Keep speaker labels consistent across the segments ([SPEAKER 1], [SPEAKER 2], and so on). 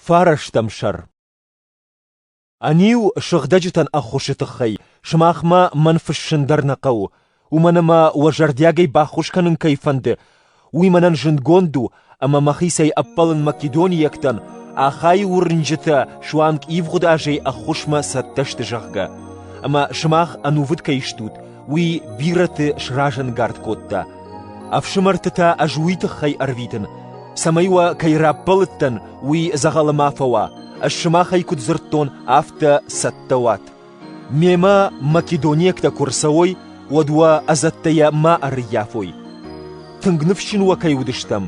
[SPEAKER 1] Фарастӕм сӕр Ӕниу сыгъдӕджытӕн ӕххуысы тыххӕй сымахмӕ мӕн фыссын дӕр нӕ хъӕуы, уымӕн ӕмӕ уӕ зӕрдиагӕй баххуыс кӕнын кӕй фӕнды, уый мӕнӕн зындгонд у, ӕмӕ мӕхицӕй ӕппӕлын македонийӕгтӕн, Ахайы уырнджытӕ суанг ивгъуыд азӕй ӕххуысмӕ цӕттӕ сты, зӕгъгӕ. Ӕмӕ сымах ӕнувыд кӕй стут, уый бирӕты сразӕнгард кодта. Ӕфсымӕрты та ӕз уый тыххӕй ӕрвитын, цӕмӕй уӕ кӕй раппӕлыдтӕн, уый дзӕгъӕлы ма фӕуа, ӕз сымахӕй куыд дзырдтон, афтӕ цӕттӕ уат. Мемӕ македонӕгтӕ куы рцӕуой, уӕд уӕ ӕдзӕттӕйӕ ма ӕрыййафой. Тынг ныфсджын уӕ кӕй уыдыстӕм,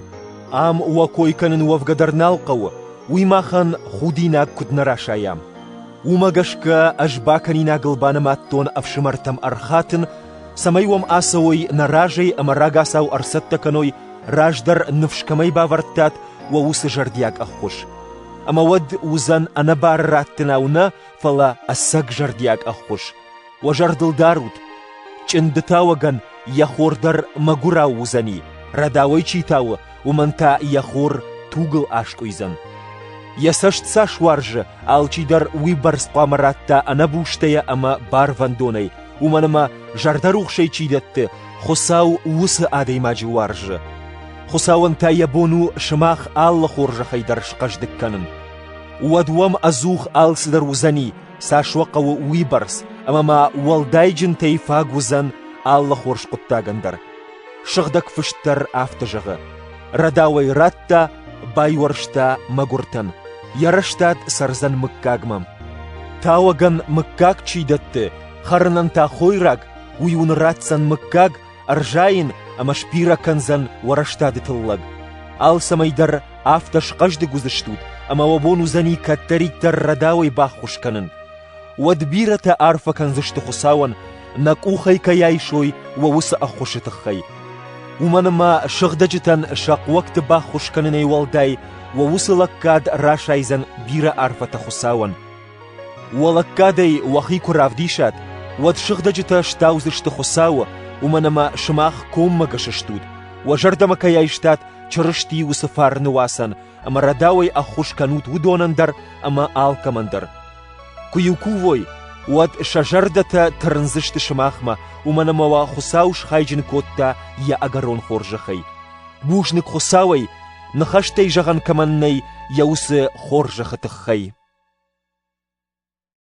[SPEAKER 1] ам уӕ кой кӕнын уӕвгӕ дӕр нал хъӕуы, уый махӕн худинаг куыд нӕ расайӕм. Уымӕ гӕсгӕ ӕз бакӕнинагыл банымадтон ӕфсымӕртӕм ӕрхатын, цӕмӕй уӕм ацӕуой нӕ разӕй ӕмӕ рагацау ӕрцӕттӕ кӕной, раздӕр ныфс кӕмӕй бавӕрдтат, уӕ уыцы зӕрдиаг ӕххуыс. Ӕмӕ уӕд уыдзӕн ӕнӕбары раттынау нӕ, фӕлӕ ӕцӕг зӕрдиаг ӕххуыс. Уӕ зӕрдыл дарут, чъындытауӕгӕн йӕ хор дӕр мӕгуырау уыдзӕни, рӕдауӕй чи тауы, уымӕн та йӕ хор тугыл аскъуыйдзӕн. Йӕ цӕст цас уарзы, алчидӕр уыйбӕрц хъуамӕ ратта ӕнӕбустӕйӕ ӕмӕ барвӕндонӕй, уымӕн ӕмӕ зӕрдӕрухсӕй чи дӕтты, Хуыцау уыцы адӕймаджы уарзы. Хуыцауӕн та йӕ бон у сымах алы хорзӕхӕй дӕр схъӕздыг кӕнын. Уӕд уӕм ӕдзух алцыдӕр уыдзӕни, Цас уӕ хъӕуы, уыйбӕрц, ӕмӕ ма уӕлдайджынтӕй фаг уыдзӕн алы хорз хъуыддагӕн дӕр. Сыгъдӕг фыст дӕр афтӕ зӕгъы: «Рӕдауӕй радта, байуӕрста мӕгуыртӕн, йӕ рӕстад цӕрдзӕн мыггагмӕ». Тауӕгӕн мыггаг чи дӕтты, хӕрынӕн та хойраг, уый уын ратдзӕн мыггаг ӕрзайын ӕмӕ сбирӕ кӕндзӕн уӕрӕстады тыллӕг. Алцӕмӕй дӕр афтӕ схъӕздыг уыдзыстут, ӕмӕ уӕ бон уыдзӕни кӕддӕриддӕр рӕдауӕй баххуыс кӕнын. Уӕд бирӕтӕ арфӕ кӕндзысты Хуыцауӕн, нӕ къухӕй кӕй айсой уӕ уыцы ӕххуысы тыххӕй. Уымӕн ӕмӕ сыгъдӕджытӕн сӕ хъуӕгты баххуыс кӕнынӕй уӕлдай уӕ уыцы лӕггад расайдзӕн бирӕ арфӕтӕ Хуыцауӕн. Уӕ лӕггадӕй уӕхи куы равдисат, уӕд сыгъдӕджытӕ стаудзысты Хуыцауы, уымӕн ӕмӕ сымах коммӕ гӕсыстут, уӕ зӕрдӕмӕ кӕй айстат Чырысти уыцы фарны уацӕн, ӕмӕ рӕдауӕй ӕххуыс кӕнут уыдонӕн дӕр ӕмӕ алкӕмӕн дӕр. Куы-иу кувой, уӕд сӕ зӕрдӕтӕ тырндзысты сымахмӕ, уымӕн ӕмӕ уӕ Хуыцау схайджын кодта йӕ ӕгӕрон хорзӕхӕй. Бузныг Хуыцауӕй, ныхӕстӕй зӕгъӕн кӕмӕн нӕй йӕ уыцы хорзӕхы тыххӕй.